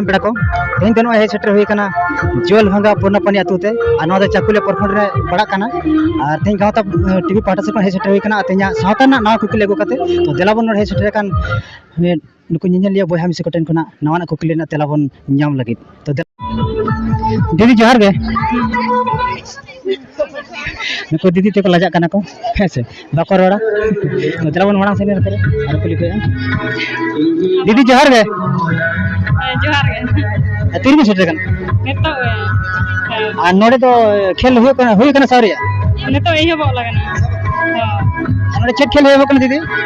ᱯᱮᱲᱟ ᱠᱚ ᱛᱮᱦᱮᱧ ᱫᱚ ᱱᱚᱜᱼᱚᱭ ᱦᱮᱡ ᱥᱮᱴᱮᱨ ᱦᱩᱭ ᱟᱠᱟᱱᱟ ᱡᱚᱞ ᱵᱷᱟᱸᱜᱟ ᱯᱩᱨᱱᱟᱯᱟᱱᱤ ᱟᱹᱛᱩ ᱛᱮ ᱟᱨ ᱱᱚᱣᱟ ᱫᱚ ᱪᱟᱠᱩᱞᱤᱭᱟ ᱯᱨᱚᱠᱷᱚᱸᱰ ᱨᱮ ᱯᱟᱲᱟᱜ ᱠᱟᱱᱟ ᱟᱨ ᱛᱮᱦᱮᱧ ᱜᱟᱶᱛᱟ ᱴᱤᱵᱷᱤ ᱯᱟᱦᱴᱟ ᱥᱮᱫ ᱠᱷᱚᱱ ᱦᱮᱡ ᱥᱮᱴᱮᱨ ᱦᱩᱭ ᱟᱠᱟᱱᱟ ᱟᱨ ᱛᱮᱦᱮᱧᱟᱜ ᱥᱟᱶᱛᱟ ᱨᱮᱱᱟᱜ ᱱᱟᱣᱟ ᱠᱩᱠᱞᱤ ᱟᱹᱜᱩ ᱠᱟᱛᱮ ᱛᱚ ᱫᱮᱞᱟ ᱵᱚᱱ ᱱᱚᱰᱮ ᱦᱮᱡ ᱥᱮᱴᱮᱨ ᱟᱠᱟᱱ ᱱᱩᱠᱩ ᱧᱮᱧᱮᱞᱤᱭᱟᱹ ᱵᱚᱭᱦᱟ ᱢᱤᱥᱤ ᱠᱚᱴᱷᱮᱱ ᱠᱷᱚᱱᱟᱜ ᱱᱟᱣᱟᱱᱟᱜ ᱠᱩᱠᱞᱤ ᱨᱮᱱᱟᱜ ᱛᱮᱞᱟ ᱵᱚᱱ ᱧᱟᱢ ᱞᱟᱹᱜᱤᱫ ᱛᱚ ᱫᱤᱫᱤ ᱡᱚᱦᱟᱨ ᱜᱮ ᱱᱩᱠᱩ ᱫᱤᱫᱤ ᱛᱮᱠᱚ ᱞᱟᱡᱟᱜ ᱠᱟᱱᱟ ᱠᱚ ᱦᱮᱸ ᱥᱮ ᱵᱟᱠᱚ ᱨᱚᱲᱟ ᱛᱚ ᱫᱮᱞᱟ ᱵᱚᱱ ᱢᱟᱲᱟᱝ ᱥᱮᱫ ᱱᱚᱛᱮ ᱟᱨ ᱠᱩᱞᱤ ᱠᱚᱭᱟ ᱫᱤᱫᱤ ᱡᱚᱦᱟᱨ ᱜᱮ ᱡᱚᱦᱟᱨ ᱜᱮ ᱛᱤᱨᱮᱵᱤᱱ ᱥᱮᱴᱮᱨ ᱠᱟᱱᱟ ᱱᱤᱛᱚᱜ ᱟᱨ ᱱᱚᱰᱮ ᱫᱚ ᱠᱷᱮᱞ ᱦᱩᱭᱩᱜ ᱠᱟᱱᱟ ᱦᱩᱭ ᱠᱟᱱᱟ ᱥᱟᱣᱨᱤᱭᱟ ᱱᱤᱛᱚᱜ ᱮᱦᱚᱵᱚᱜ ᱞᱟᱜᱟᱱᱟ ᱱᱚᱰᱮ ᱪᱮᱫ ᱠᱷᱮᱞ ᱦᱩᱭᱩᱜ ᱠᱟᱱᱟ ᱫᱤᱫᱤ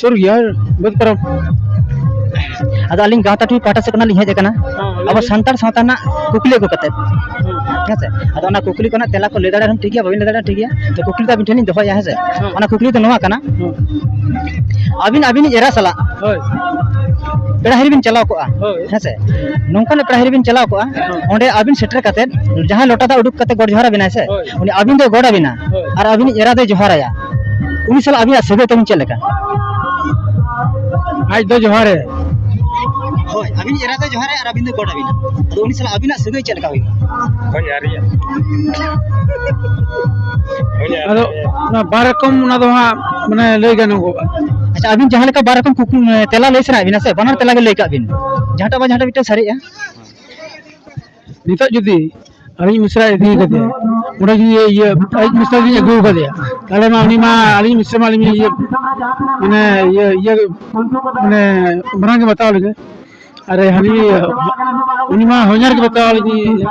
ᱥᱩᱨ ᱜᱮᱭᱟ ᱵᱟᱹᱫᱽ ᱯᱟᱨᱚᱢ ᱟᱫᱚ ᱟᱹᱞᱤᱧ ᱜᱟᱶᱛᱟ ᱴᱩᱭ ᱯᱟᱦᱴᱟ ᱥᱮᱫ ᱠᱷᱚᱱᱟᱜ ᱞᱤᱧ ᱦᱮᱡ ᱟᱠᱟᱱᱟ ᱟᱵᱚ ᱥᱟᱱᱛᱟᱲ ᱥᱟᱶᱛᱟ ᱨᱮᱱᱟᱜ ᱠᱩᱠᱞᱤ ᱟᱹᱜᱩ ᱠᱟᱛᱮᱫ ᱦᱮᱸ ᱥᱮ ᱟᱫᱚ ᱚᱱᱟ ᱠᱩᱠᱞᱤ ᱠᱚᱨᱮᱱᱟᱜ ᱛᱮᱞᱟ ᱠᱚ ᱞᱟᱹᱭ ᱫᱟᱲᱮᱭᱟᱜ ᱨᱮᱦᱚᱸ ᱴᱷᱤᱠ ᱜᱮᱭᱟ ᱵᱟᱹᱵᱤᱱ ᱞᱟᱹᱭ ᱫᱟᱲᱮᱭᱟᱜ ᱴᱷᱤᱠ ᱜᱮᱭᱟ ᱛᱚ ᱠᱩᱠᱞᱤ ᱫᱚ ᱟᱹᱵᱤᱱ ᱴᱷᱮᱱ ᱞᱤᱧ ᱫᱚᱦᱚᱭᱟ ᱦᱮᱸ ᱥᱮ ᱚᱱᱟ ᱠᱩᱠᱞᱤ ᱫᱚ ᱱᱚᱣᱟ ᱠᱟᱱᱟ ᱟᱹᱵᱤᱱ ᱟᱹᱵᱤᱱᱤᱡ ᱮᱨᱟ ᱥᱟᱞᱟᱜ ᱦᱳᱭ ᱯᱮᱲᱟ ᱦᱤᱨᱤ ᱵᱤᱱ ᱪᱟᱞᱟᱣ ᱠᱚᱜᱼᱟ ᱦᱳᱭ ᱦᱮᱸ ᱥᱮ ᱱᱚᱝᱠᱟᱱᱟᱜ ᱯᱮᱲᱟ ᱦᱤᱨᱤ ᱵᱤᱱ ᱪᱟᱞᱟᱣ ᱠᱚᱜᱼᱟ ᱚᱸᱰᱮ ᱟᱹᱵᱤᱱ ᱥᱮᱴᱮᱨ ᱠᱟᱛᱮᱫ ᱡᱟᱦᱟᱸᱭ ᱞᱚᱴᱟ ᱫᱟᱜ ᱩᱰᱩᱠ ᱠᱟᱛᱮᱫ ᱜᱚᱰ ᱡᱚᱦᱟᱨ ᱟᱵᱤᱱᱟᱭ ᱥᱮ ᱦᱳᱭ᱾ ᱩᱱᱤ ᱟᱹᱵᱤᱱ ᱫᱚᱭ ᱜᱚᱰ ᱟᱵᱤᱱᱟ ᱦᱳᱭ᱾ ᱟᱨ ᱟᱹᱵᱤᱱᱤᱡ ᱮᱨᱟ ᱫᱚᱭ ᱡᱚᱦᱟᱨᱟᱭᱟ ᱩᱱᱤ ᱥᱟᱞᱟᱜ ᱟᱹᱵᱤᱱᱟᱜ ᱥᱟᱹᱜᱟᱹᱭ ᱛᱟᱹᱵᱤᱱ ᱪᱮᱫ ᱞᱮᱠᱟ ᱟᱡ ᱫᱚ ᱡᱚᱦᱟᱨᱮ ᱦᱳᱭ ᱟᱹᱵᱤᱱ ᱮᱨᱟ ᱫᱚ ᱡᱚᱦᱟᱨᱮ ᱟᱨ ᱟᱹᱵᱤᱱ ᱫᱚ ᱜᱚᱰ ᱟᱹᱵᱤᱱᱟ ᱟᱫᱚ ᱩᱱᱤ ᱥᱟᱞᱟᱜ ᱟᱹᱵᱤᱱᱟᱜ ᱥᱟᱹᱜᱟᱹᱭ ᱪᱮᱫ ᱞᱮᱠᱟ ᱦᱩᱭᱩᱜᱼᱟ ᱦᱳᱭ ᱟᱹᱨᱤᱭᱟ ᱟᱫᱚ ᱚᱱᱟ ᱵᱟᱨ ᱨᱚᱠᱚᱢ ᱚᱱᱟ ᱫᱚ ᱦᱟᱸᱜ ᱢᱟᱱᱮ ᱞᱟᱹᱭ ᱜᱟᱱᱚᱜᱚᱜᱼᱟ ᱟᱪᱪᱷᱟ ᱟᱹᱵᱤᱱ ᱡᱟᱦᱟᱸ ᱞᱮᱠᱟ ᱵᱟᱨ ᱨᱚᱠᱚᱢ ᱠᱩᱠᱞᱤ ᱛᱮᱞᱟ ᱞᱟᱹᱭ ᱥᱟᱱᱟᱭᱮᱫ ᱵᱤᱱᱟ ᱥᱮ ᱵᱟᱱᱟᱨ ᱛᱮᱞᱟ ᱜᱮ ᱞᱟᱹᱭ ᱠᱟᱜ ᱵᱤᱱ ᱡᱟᱦᱟᱸᱴᱟᱜ ᱵᱟᱝ ᱡᱟᱦᱟᱸᱴᱟᱜ ᱢᱤᱫᱴᱟᱝ ᱥᱟᱹᱨᱤᱜᱼᱟ ᱱᱤᱛᱚᱜ ᱡᱩᱫᱤ ᱟᱹᱞᱤᱧ ᱢᱤᱥᱨᱟ ᱤᱫᱤ ᱠᱟᱛᱮ ᱚᱸᱰᱮ ᱡᱩᱫᱤ ᱤᱭᱟᱹ ᱟᱹᱞᱤᱧ ᱢᱤᱥᱨᱟ ᱞᱤᱧ ᱟᱹᱜᱩ ᱠᱟᱫᱮᱭᱟ ᱛᱟᱦᱚᱞᱮ ᱢᱟ ᱩᱱᱤ ᱢᱟ ᱟᱹᱞᱤᱧ ᱢᱤᱥᱨᱟ ᱢᱟ ᱟᱹᱞᱤᱧ ᱤᱭᱟᱹ ᱢᱟᱱᱮ ᱤᱭᱟᱹ ᱤᱭᱟᱹ ᱢᱟᱱᱮ ᱢᱟᱨᱟᱝ ᱜᱮ ᱵᱟᱛᱟᱣ ᱞᱤᱧᱟᱹ ᱟᱨ ᱦᱟᱹᱱᱤ ᱩᱱᱤ ᱢᱟ ᱦᱚᱧᱦᱟᱨ ᱜᱮ ᱵᱟᱛᱟᱣ ᱞᱤᱧᱟᱹ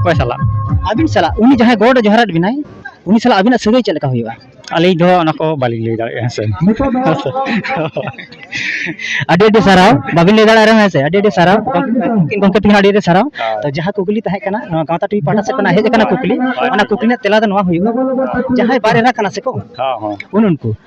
ᱚᱠᱚᱭ ᱥᱟᱞᱟᱜ ᱟᱹᱵᱤᱱ ᱥᱟᱞᱟᱜ ᱩᱱᱤ ᱡᱟᱦᱟᱸᱭ ᱜᱚᱰ ᱮ ᱡᱚᱦᱟᱨᱟᱫ ᱵᱮᱱᱟᱭ ᱩᱱᱤ ᱥᱟᱞᱟᱜ ᱟᱹᱵᱤᱱᱟᱜ ᱥᱟᱹᱜᱟᱹᱭ ᱪᱮᱫ ᱞᱮᱠᱟ ᱦᱩᱭᱩᱜᱼᱟ ᱟᱹᱞᱤᱧ ᱫᱚ ᱚᱱᱟ ᱠᱚ ᱵᱟᱹᱞᱤᱧ ᱞᱟᱹᱭ ᱫᱟᱲᱮᱭᱟᱜᱼᱟ ᱦᱮᱸ ᱥᱮ ᱦᱮᱸ ᱥᱮ ᱟᱹᱰᱤ ᱟᱹᱰᱤ ᱥᱟᱨᱦᱟᱣ ᱵᱟᱵᱤᱱ ᱞᱟᱹᱭ ᱫᱟᱲᱮᱭᱟᱜ ᱨᱮᱦᱚᱸ ᱦᱮᱸ ᱥᱮ ᱟᱹᱰᱤ ᱟᱹᱰᱤ ᱥᱟᱨᱦᱟᱣ ᱜᱚᱢᱠᱮ ᱜᱚᱢᱠᱮ ᱛᱤᱠᱤᱱ ᱟᱹᱰᱤ ᱟᱹᱰᱤ ᱥᱟᱨᱦᱟᱣ ᱛᱚ ᱡᱟᱦᱟᱸ ᱠᱩᱠᱞᱤ ᱛᱟᱦᱮᱸ ᱠᱟᱱᱟ ᱱᱚᱣᱟ ᱜᱟᱶᱛᱟ ᱴᱤᱵᱷᱤ ᱯᱟᱦᱴᱟ ᱥᱮᱫ ᱠᱷᱚᱱᱟᱜ ᱦᱮᱡ ᱟᱠᱟᱱᱟ ᱠᱩᱠᱞᱤ ᱚᱱᱟ ᱠᱩᱠᱞᱤ ᱨᱮᱱᱟᱜ ᱛᱮᱞᱟ ᱫᱚ ᱱᱚᱣᱟ ᱦᱩᱭᱩᱜᱼᱟ ᱡᱟᱦᱟᱸᱭ ᱵᱟᱨ ᱮᱨᱟ ᱠᱟᱱᱟ ᱥᱮᱠᱚ ᱦᱮᱸ ᱦᱮᱸ ᱩᱱ ᱩᱱᱠᱩ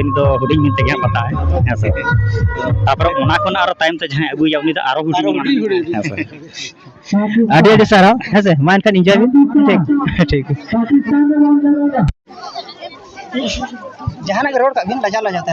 ᱤᱧ ᱫᱚ ᱦᱩᱰᱤᱧ ᱦᱩᱰᱤᱧ ᱛᱮᱜᱮ ᱦᱟᱸᱜ ᱵᱟᱛᱟᱣᱟᱭ ᱦᱮᱸ ᱥᱮ ᱛᱟᱨᱯᱚᱨᱮ ᱚᱱᱟ ᱠᱷᱚᱱ ᱟᱨᱚ ᱛᱟᱭᱚᱢ ᱛᱮ ᱡᱟᱦᱟᱸᱭ ᱟᱹᱜᱩᱭᱟ ᱩᱱᱤ ᱫᱚ ᱟᱨᱚ ᱦᱩᱰᱤᱧ ᱦᱮᱸ ᱥᱮ ᱟᱹᱰᱤ ᱟᱹᱰᱤ ᱥᱟᱨᱦᱟᱣ ᱦᱮᱸ ᱥᱮ ᱢᱟ ᱮᱱᱠᱷᱟᱱ ᱤᱱᱡᱚᱭ ᱵᱤᱱ ᱴᱷᱤᱠ ᱴᱷᱤᱠ ᱡᱟᱦᱟᱱᱟᱜ ᱜᱮ ᱨᱚᱲ ᱠᱟᱜ ᱵᱤᱱ ᱞᱟᱡᱟᱣ ᱞᱟᱡᱟᱣ ᱛᱮ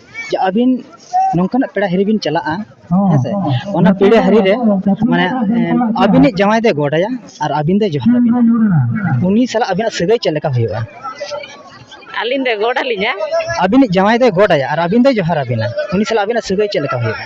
ᱡᱮ ᱟᱹᱵᱤᱱ ᱱᱚᱝᱠᱟᱱᱟᱜ ᱯᱮᱲᱟ ᱦᱤᱨᱤ ᱵᱤᱱ ᱪᱟᱞᱟᱜᱼᱟ ᱦᱮᱸ ᱥᱮ ᱚᱱᱟ ᱯᱮᱲᱟ ᱦᱤᱨᱤ ᱨᱮ ᱢᱟᱱᱮ ᱟᱹᱵᱤᱱᱤᱡ ᱡᱟᱶᱟᱭ ᱫᱚᱭ ᱜᱚᱰᱟᱭᱟ ᱟᱨ ᱟᱹᱵᱤᱱ ᱫᱚᱭ ᱡᱚᱦᱟᱨ ᱟᱹᱵᱤᱱᱟ ᱩᱱᱤ ᱥᱟᱞᱟᱜ ᱟᱹᱵᱤᱱᱟᱜ ᱥᱟᱹᱜᱟᱹᱭ ᱪᱮᱫ ᱞᱮᱠᱟ ᱦᱩᱭᱩᱜᱼᱟ ᱟᱹᱞᱤᱧ ᱫᱚᱭ ᱜᱚᱰ ᱟᱹᱞᱤᱧᱟ ᱟᱹᱵᱤᱱᱤᱡ ᱡᱟᱶᱟᱭ ᱫᱚᱭ ᱜᱚᱰᱟᱭᱟ ᱟᱨ ᱟᱹᱵᱤᱱ ᱫᱚᱭ ᱡᱚᱦᱟᱨ ᱟᱹᱵᱤᱱᱟ ᱩᱱᱤ ᱥᱟᱞᱟᱜ ᱟᱹᱵᱤᱱᱟᱜ ᱥᱟᱹᱜᱟᱹᱭ ᱪᱮᱫ ᱞᱮᱠᱟ ᱦᱩᱭᱩᱜᱼᱟ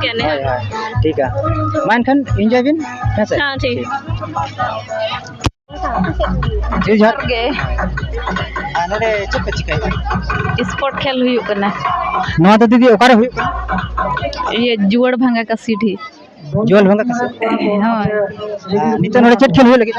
ᱦᱳᱭ ᱦᱳᱭ ᱴᱷᱤᱠ ᱜᱮᱭᱟ ᱢᱟ ᱮᱱᱠᱷᱟᱱ ᱤᱱᱡᱚᱭ ᱵᱤᱱ ᱦᱮᱸ ᱥᱮ ᱴᱷᱤᱠ ᱡᱤᱣᱤ ᱡᱚᱦᱟᱨ ᱜᱮ ᱟᱨ ᱱᱚᱰᱮ ᱪᱮᱫ ᱯᱮ ᱪᱤᱠᱟᱹᱭᱮᱫᱟ ᱥᱯᱳᱨᱴ ᱠᱷᱮᱞ ᱦᱩᱭᱩᱜ ᱠᱟᱱᱟ ᱱᱚᱣᱟ ᱫᱚ ᱫᱤᱫᱤ ᱚᱠᱟᱨᱮ ᱦᱩᱭᱩᱜ ᱠᱟᱱᱟ ᱤᱭᱟᱹ ᱡᱩᱣᱟᱹᱲ ᱵᱷᱟᱸᱜᱟ ᱠᱟᱥᱤᱰᱤ ᱡᱩᱣᱟᱹᱞ ᱵᱷᱟᱸᱜᱟ ᱠᱟᱥᱤᱰᱤ ᱦᱳᱭ ᱱᱤᱛᱚᱜ ᱱᱚᱰᱮ ᱪᱮᱫ ᱠᱷᱮᱞ ᱦᱩᱭᱩᱜ ᱞᱟᱹᱜᱤᱫ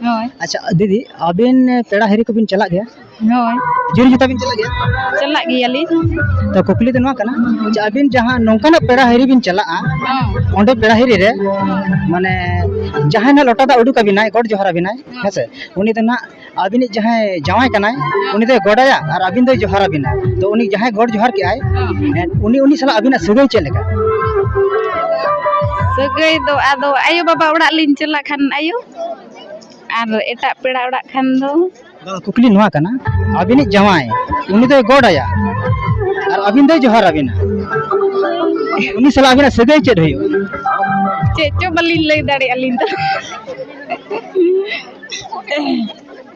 ᱦᱳᱭ ᱟᱪᱪᱷᱟ ᱫᱤᱫᱤ ᱟᱵᱤᱱ ᱯᱮᱲᱟ ᱦᱤᱨᱤ ᱠᱚᱵᱤᱱ ᱪᱟᱞᱟᱜ ᱜᱮᱭᱟ ᱦᱳᱭ ᱡᱤᱞ ᱡᱚᱛᱟ ᱵᱤᱱ ᱪᱟᱞᱟᱜ ᱜᱮᱭᱟ ᱪᱟᱞᱟᱜ ᱜᱮᱭᱟᱞᱤᱧ ᱛᱚ ᱠᱩᱠᱞᱤ ᱫᱚ ᱱᱚᱣᱟ ᱠᱟᱱᱟ ᱡᱮ ᱟᱵᱤᱱ ᱡᱟᱦᱟᱸ ᱱᱚᱝᱠᱟᱱᱟᱜ ᱯᱮᱲᱟ ᱦᱤᱨᱤ ᱵᱤᱱ ᱪᱟᱞᱟᱜᱼᱟ ᱦᱚᱸ ᱚᱸᱰᱮ ᱯᱮᱲᱟ ᱦᱤᱨᱤ ᱨᱮ ᱢᱟᱱᱮ ᱡᱟᱦᱟᱸᱭ ᱱᱟᱜ ᱞᱚᱴᱟ ᱫᱟᱜ ᱩᱰᱩᱠ ᱟᱵᱤᱱᱟᱭ ᱜᱚᱰ ᱡᱚᱦᱟᱨ ᱟᱵᱤᱱᱟᱭ ᱦᱮᱸᱥᱮ ᱩᱱᱤ ᱫᱚ ᱱᱟᱜ ᱟᱵᱤᱱᱤᱡ ᱡᱟᱦᱟᱸᱭ ᱡᱟᱶᱟᱭ ᱠᱟᱱᱟᱭ ᱩᱱᱤ ᱫᱚᱭ ᱜᱚᱰᱟᱭᱟ ᱟᱨ ᱟᱵᱤᱱ ᱫᱚᱭ ᱡᱚᱦᱟᱨ ᱟᱵᱤᱱᱟ ᱛᱚ ᱩᱱᱤ ᱡᱟᱦᱟᱸᱭ ᱜᱚᱰ ᱡᱚᱦᱟᱨ ᱠᱮᱜᱼᱟᱭ ᱦᱚᱸ ᱩᱱᱤ ᱩᱱᱤ ᱥᱟᱞᱟᱜ ᱟᱵᱤᱱᱟᱜ ᱥᱟᱹᱜᱟᱹᱭ ᱪᱮᱫ ᱞᱮᱠᱟ ᱥᱟᱹᱜᱟᱹᱭ ᱫᱚ ᱟᱫᱚ ᱟᱭᱳ ᱵᱟᱵᱟ ᱚᱲᱟᱜ ᱞᱤᱧ ᱪᱟᱞᱟᱜ ᱠᱷᱟᱱ ᱟᱭᱳ ᱟᱨ ᱮᱴᱟᱜ ᱯᱮᱲᱟ ᱚᱲᱟᱜ ᱠᱷᱟᱱ ᱫᱚ ᱠᱩᱠᱞᱤ ᱱᱚᱣᱟ ᱠᱟᱱᱟ ᱟᱹᱵᱤᱱᱤᱡ ᱡᱟᱶᱟᱭ ᱩᱱᱤ ᱫᱚᱭ ᱜᱚᱰ ᱟᱭᱟ ᱟᱨ ᱟᱹᱵᱤᱱ ᱫᱚᱭ ᱡᱚᱦᱟᱨ ᱟᱹᱵᱤᱱᱟ ᱩᱱᱤ ᱥᱟᱞᱟᱜ ᱟᱹᱵᱤᱱᱟᱜ ᱥᱟᱹᱜᱟᱹᱭ ᱪᱮᱫ ᱦᱩᱭᱩᱜᱼᱟ ᱪᱮᱫ ᱪᱚ ᱵᱟᱹᱞᱤᱧ ᱞᱟᱹᱭ ᱫᱟᱲᱮᱭᱟᱜᱼᱟ ᱟᱹᱞᱤᱧ ᱫᱚ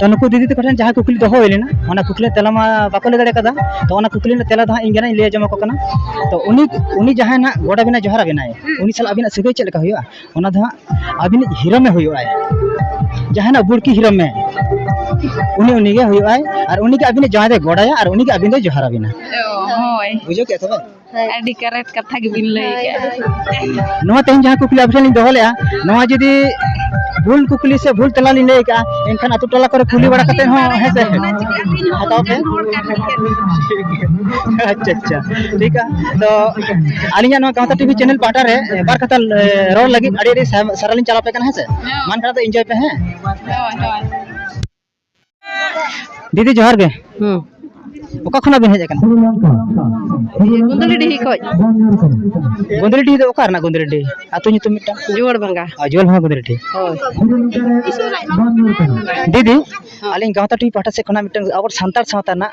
ᱛᱚ ᱱᱩᱠᱩ ᱫᱤᱫᱤ ᱛᱟᱠᱚ ᱴᱷᱮᱱ ᱡᱟᱦᱟᱸ ᱠᱩᱠᱞᱤ ᱫᱚᱦᱚ ᱦᱩᱭ ᱞᱮᱱᱟ ᱚᱱᱟ ᱠᱩᱠᱞᱤ ᱛᱮᱞᱟ ᱢᱟ ᱵᱟᱠᱚ ᱞᱟᱹᱭ ᱫᱟᱲᱮ ᱠᱟᱫᱟ ᱛᱚ ᱚᱱᱟ ᱠᱩᱠᱞᱤ ᱨᱮᱱᱟᱜ ᱛᱮᱞᱟ ᱫᱚ ᱦᱟᱸᱜ ᱤᱧ ᱜᱮ ᱞᱟᱹᱭ ᱟᱸᱡᱚᱢ ᱟᱠᱚ ᱠᱟᱱᱟ ᱛᱚ ᱩᱱᱤ ᱩᱱᱤ ᱡᱟᱦᱟᱸᱭ ᱱᱟᱜ ᱜᱚᱰ ᱟᱵᱤᱱᱟᱭ ᱡᱚᱦᱟᱨ ᱟᱵᱤᱱᱟᱭ ᱩᱱᱤ ᱥᱟᱞᱟᱜ ᱟᱵᱤᱱᱟᱜ ᱥᱟᱹᱜᱟᱹᱭ ᱪᱮᱫ ᱞᱮᱠᱟ ᱦᱩᱭᱩᱜᱼᱟ ᱚᱱᱟ ᱫᱚ ᱦᱟᱸᱜ ᱟᱵᱤᱱᱤᱡ ᱦᱤᱨᱚᱢᱮ ᱦᱩᱭᱩᱜᱼᱟᱭ ᱡᱟᱦᱟᱱᱟᱜ ᱵᱩᱲᱠᱤ ᱦᱤᱨᱚᱢ ᱢᱮ ᱩᱱᱤ ᱩᱱᱤ ᱜᱮ ᱦᱩᱭᱩᱜᱼᱟᱭ ᱟᱨ ᱩᱱᱤ ᱜᱮ ᱟᱵᱤᱱᱤᱡ ᱡᱟᱶᱟᱭ ᱫᱚᱭ ᱜᱚᱰᱟᱭᱟ ᱟᱨ ᱩᱱᱤ ᱜᱮ ᱟᱵᱤᱱ ᱫᱚᱭ ᱡᱚᱦᱟᱨ ᱟᱵᱤᱱᱟ ᱦᱳᱭ ᱵᱩᱡᱷᱟᱹᱣ ᱠᱮᱫ ᱛᱚᱵᱮ ᱟᱹᱰᱤ ᱠᱟᱨᱮᱴ ᱠᱟᱛᱷᱟ ᱜᱮᱵᱤᱱ ᱞᱟᱹᱭ ᱠᱟᱜᱼᱟ ᱱᱚᱣᱟ ᱛᱮᱦᱮᱧ ᱡᱟᱦᱟᱸ ᱠᱩᱠᱞᱤ ᱟᱯᱮ ᱴᱷᱮᱱ ᱞᱤᱧ ᱫᱚᱦᱚ ᱞᱮᱜᱼᱟ ᱱᱚᱣᱟ ᱡᱩᱫᱤ ᱵᱷᱩᱞ ᱠᱩᱠᱞᱤ ᱥᱮ ᱵᱷᱩᱞ ᱛᱮᱞᱟ ᱞᱤᱧ ᱞᱟᱹᱭ ᱠᱟᱜᱼᱟ ᱮᱱᱠᱷᱟᱱ ᱟᱛᱳ ᱴᱚᱞᱟ ᱠᱚᱨᱮ ᱠᱩᱞᱤ ᱵᱟᱲᱟ ᱠᱟᱛᱮ ᱦᱚᱸ ᱦᱮᱸ ᱥᱮ ᱦᱟᱛᱟᱣ ᱯᱮ ᱟᱪᱪᱷᱟ ᱟᱪᱪᱷᱟ ᱴᱷᱤᱠ ᱛᱚ ᱟᱹᱞᱤᱧᱟᱜ ᱱᱚᱣᱟ ᱜᱟᱶᱛᱟ ᱴᱤᱵᱷᱤ ᱪᱮᱱᱮᱞ ᱯᱟᱦᱴᱟ ᱨᱮ ᱵᱟᱨ ᱠᱟᱛᱷᱟ ᱨᱚᱲ ᱞᱟᱹᱜᱤᱫ ᱟᱹᱰᱤ ᱟᱹᱰᱤ ᱥᱟᱨᱦᱟᱣ ᱞᱤᱧ ᱪᱟᱞᱟᱣ ᱯᱮ ᱠᱟᱱᱟ ᱦᱮᱸ ᱥᱮ ᱢᱟᱱᱠᱷᱟᱱ ᱫᱚ ᱤᱱᱡᱚᱭ ᱯᱮ ᱦᱮᱸ ᱫᱤᱫᱤ ᱡᱚᱦᱟᱨ ᱜᱮ ᱦᱩᱸ ᱚᱠᱟ ᱠᱷᱚᱱᱟᱜ ᱵᱤᱱ ᱦᱮᱡ ᱟᱠᱟᱱᱟ ᱜᱩᱸᱫᱽᱞᱤ ᱰᱤᱦᱤ ᱠᱷᱚᱡ ᱜᱩᱸᱫᱽᱨᱤ ᱰᱤᱦᱤ ᱫᱚ ᱚᱠᱟ ᱨᱮᱱᱟᱜ ᱜᱩᱸᱫᱽᱨᱤ ᱰᱤᱦᱤ ᱟᱹᱛᱩ ᱧᱩᱛᱩᱢ ᱢᱤᱫᱴᱟᱝ ᱡᱩᱣᱟᱹᱲ ᱵᱷᱟᱸᱜᱟ ᱟᱡᱚᱞ ᱦᱚᱸ ᱜᱩᱸᱫᱽᱨᱤ ᱰᱤᱦᱤ ᱦᱳᱭ ᱫᱤᱫᱤ ᱟᱹᱞᱤᱧ ᱜᱟᱶᱛᱟ ᱴᱤᱵᱷᱤ ᱯᱟᱦᱴᱟ ᱥᱮᱫ ᱠᱷᱚᱱᱟᱜ ᱢᱤᱫᱴᱟᱝ ᱟᱵᱚ ᱥᱟᱱᱛᱟᱲ ᱥᱟᱶᱛᱟ ᱨᱮᱱᱟᱜ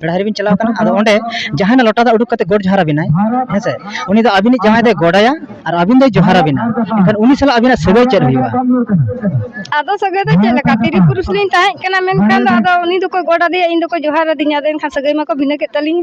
ᱯᱮᱲᱟ ᱦᱤᱨᱤ ᱵᱤᱱ ᱪᱟᱞᱟᱣ ᱠᱟᱱᱟ ᱟᱫᱚ ᱚᱸᱰᱮ ᱡᱟᱦᱟᱸᱭ ᱱᱟᱜ ᱞᱚᱴᱟ ᱫᱟᱜ ᱩᱰᱩᱠ ᱠᱟᱛᱮ ᱜᱚᱰ ᱡᱚᱦᱟᱨ ᱟᱵᱤᱱᱟᱭ ᱦᱮᱸᱥᱮ ᱩᱱᱤ ᱫᱚ ᱟᱵᱤᱱᱤᱡ ᱡᱟᱶᱟᱭ ᱫᱚᱭ ᱜᱚᱰᱟᱭᱟ ᱟᱨ ᱟᱵᱤᱱ ᱫᱚᱭ ᱡᱚᱦᱟᱨ ᱟᱵᱤᱱᱟ ᱮᱱᱠᱷᱟᱱ ᱩᱱᱤ ᱥᱟᱞᱟᱜ ᱟᱵᱤᱱᱟᱜ ᱥᱟᱹᱜᱟᱹᱭ ᱪᱮᱫ ᱦᱩᱭᱩᱜᱼᱟ ᱟᱫᱚ ᱥᱟᱹᱜᱟᱹᱭ ᱫᱚ ᱪᱮᱫ ᱞᱮᱠᱟ ᱛᱤᱨᱤ ᱯᱩᱨᱩᱥ ᱞᱤᱧ ᱛᱟᱦᱮᱸ ᱠᱟᱱᱟ ᱢᱮᱱᱠᱷᱟᱱ ᱫᱚ ᱟᱫᱚ ᱩᱱᱤ ᱫᱚᱠᱚ ᱜᱚᱰ ᱟᱫᱮᱭᱟ ᱤᱧ ᱫᱚᱠᱚ ᱡᱚᱦᱟᱨ ᱟᱹᱫᱤᱧᱟ ᱟᱫᱚ ᱮᱱᱠᱷᱟᱱ ᱥᱟᱹᱜᱟᱹᱭ ᱢᱟᱠᱚ ᱵᱷᱤᱱᱟᱹ ᱠᱮᱫ ᱛᱟᱹᱞᱤᱧ